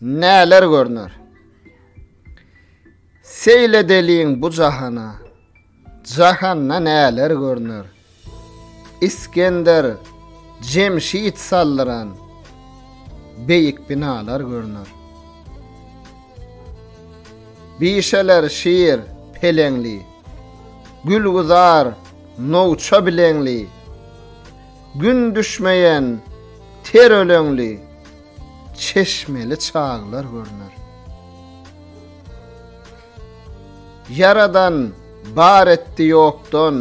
Näler görner? Seyle deliň bu jahana. Jahanda näler görner? İskender Cemşit saldıran beýik binalar görner. Bişeler şiir peleňli. Gülguzar nowça bileňli, Gün düşmeýän ter öleňli, Çeşmeli çaglar görner. Ýaradan bar etdi ýokdan,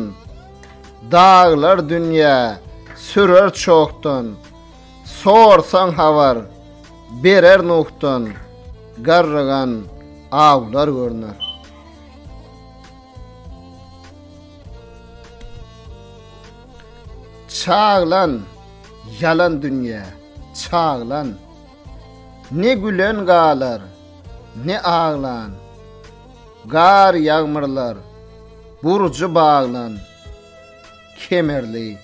Daglar dünýä sürer çokdan, Sorsaň habar berer Nuhdan, Garrygan awlar görner. Çaglan, ýalan dünýä, çaglan. Ne gülen galar, ne aglan. Gar ýagmyrlar, burjy baglan. Kemerli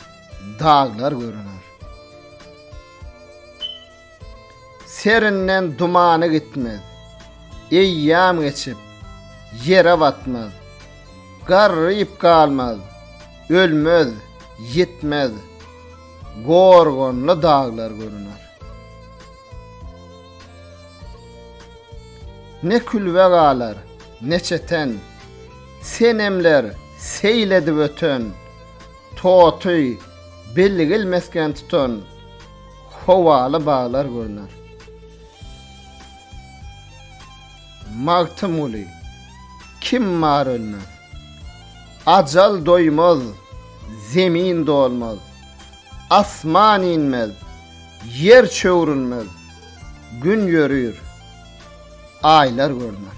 daglar görüner. Serinden dumany gitmez. Eýýam geçip, ýere batmaz. Garryp galmaz, ölmez, ýitmez. Gorgonly daglar görüner. Ne külbe galar, ne çeten. Senemler seýil edip öten. Toty bilgil mesgen tutan. Howaly baglar görner. Magtymguly, kim bar ölmez. Ajal doýmaz, zemin dolmaz. Asman inmez, ýer çöwrülmez. Gün ýörür, aýlar görner.